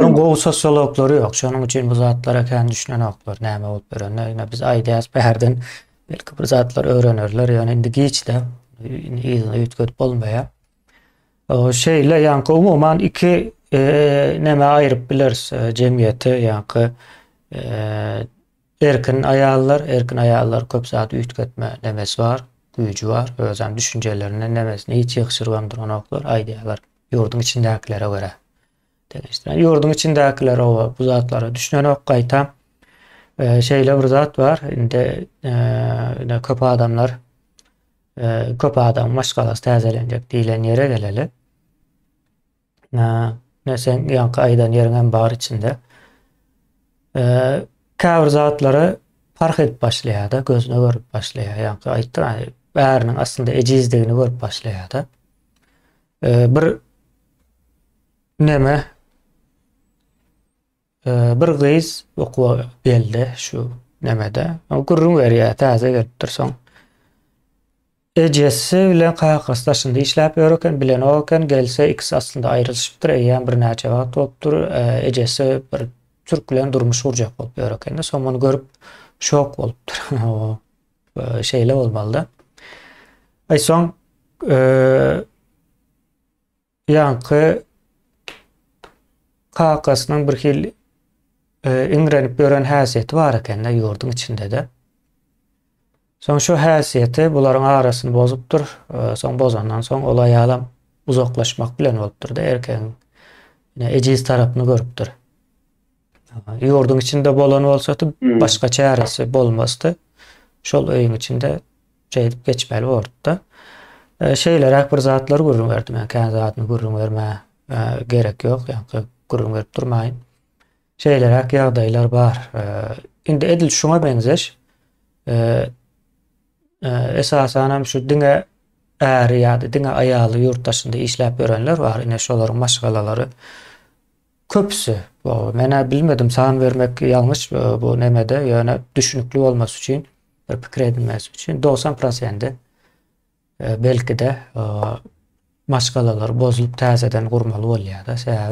Onuň gowy sosiologlary ýok. Şonuň üçin bu zatlara kän düşünenoklar. Näme bolup ýörenine ýöne biz aýdýas bärden belki bir zatlar öwrenerler. Ýöne indi giçde yzyna üýtgedip bolmaýar. Şeýle ýaňky umuman iki nämä aýryp bileris jemgyýeti ýaňky erkin aýallar, erkin aýallar köp zat üýtgetme nemesi bar, güýji bar. Özem düşünjelerini, nemesini hiç ýygşyrybam duranoklar. Aýdýarlar ýurduň içindäkilere görä. Teleşdiren ýurduň içindäkiler oba bu zatlara düşünenok gaýta. E, şeýle bir zat bar. Indi e, köp adamlar e, köp adam maşgalasy täzelenjek diýlen ýere geleli. E, ne sen ýaňky aýdan ýeriň hem bar içinde. E, käbir zatlara parh edip başlaýar-da, gözüne görüp başlaýar. Ýaňky aýtdyk, bäriniň aslynda ejizdigini görüp başlaýar-da. Ee, bir neme ee, bir gyz okuwa geldi şu nemede. O gürrüň berýär, täze gelipdir soň. Ejesi bilen kakasy daşynda işläp ýör eken, bilen o eken, gelse ikisi aslynda aýrylyşypdyr, eýýäm birnäçe wagt bolupdyr. Ee, ejesi bir türk bilen durmuş gurjak bolup ýör eken. Soň muny görüp şok bolupdyr. Şeýle bolmalyda. Ay soň ýaňky kakasynyň bir hil iňrenip gören häsiýeti bar ekende ýurduň içinde-de. Soň şu häsiýeti bularyň arasyny bozupdyr. Soň bozandan soň ol aýalam uzaklaşmak bilen bolupdyr-da erkegiň ejiz tarapyny görüpdir. Ýurduň içinde bolan bolsady, hmm. başga çäresi bolmazdy. Şol öýüň içinde şeýdip geçmeli bolupdy. E, Şeýleräk bir zatlar gürrüň berdim. Yani, Kän zadyny gürrüň berme e, gerek ýok. Yani, gürrüň berip durmaýyn. Şeýleräk ýagdaýlar bar. E, indi edil şuňa meňzeş esasan hem şu diňe äri ýa-da diňe aýaly ýurt daşynda işläp ýörenler bar. Ine şolaryň maşgalalary Köpüsi. Menä bilmedim san bermek ýalňyş bu nemede ýöne düşünikli bolmasy üçin bir pikir edinmesi üçin dogsan prosendi belkide maşgalalar bozulyp täzeden gurmaly bolýada sebäbi